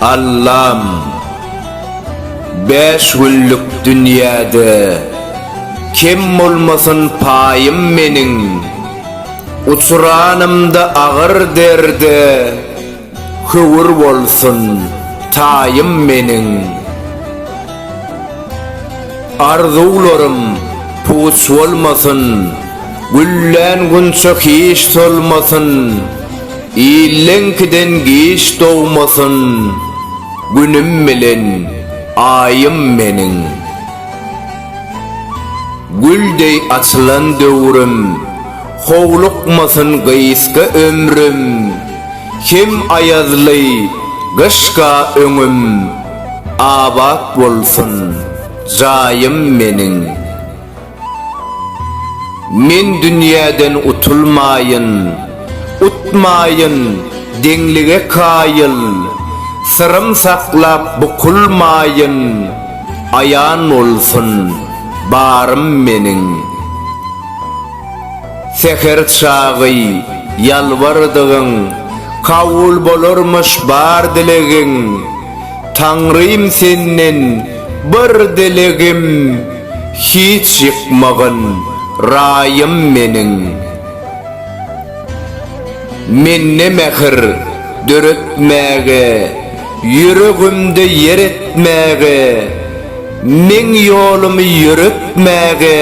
Allam Bäş günlük dünýäde Kem bolmasyn paýym meniň Uçranymda agyr derde Höwür bolsun, taýym meniň. Arzuwlarym puç bolmasyn, Güllän gunça hiç solmasyn, Illeňkiden giç dogmasyn, Günüm bilen Aýym meniň. Gül deý açylan döwrüm. Howlukmasyn gysga ömrüm, Hem aýazly gyşka öňüm, Abat bolsun jaýym meniň. Men dünýäden utulmaýyn, Utmaýyn deňlige kaýyl, Syrym saklap bukulmaýyn, Aýan bolsun barym meniň. Säher çagy ýalbardygyň kabul bolarmyş bar dilegiň, Taňrym senden bir dilegim hiç ýykmagyn raýym meniň. Mende mähir döretmäge, ýüregimde ýer etmäge, meň ýolumy ýöretmäge,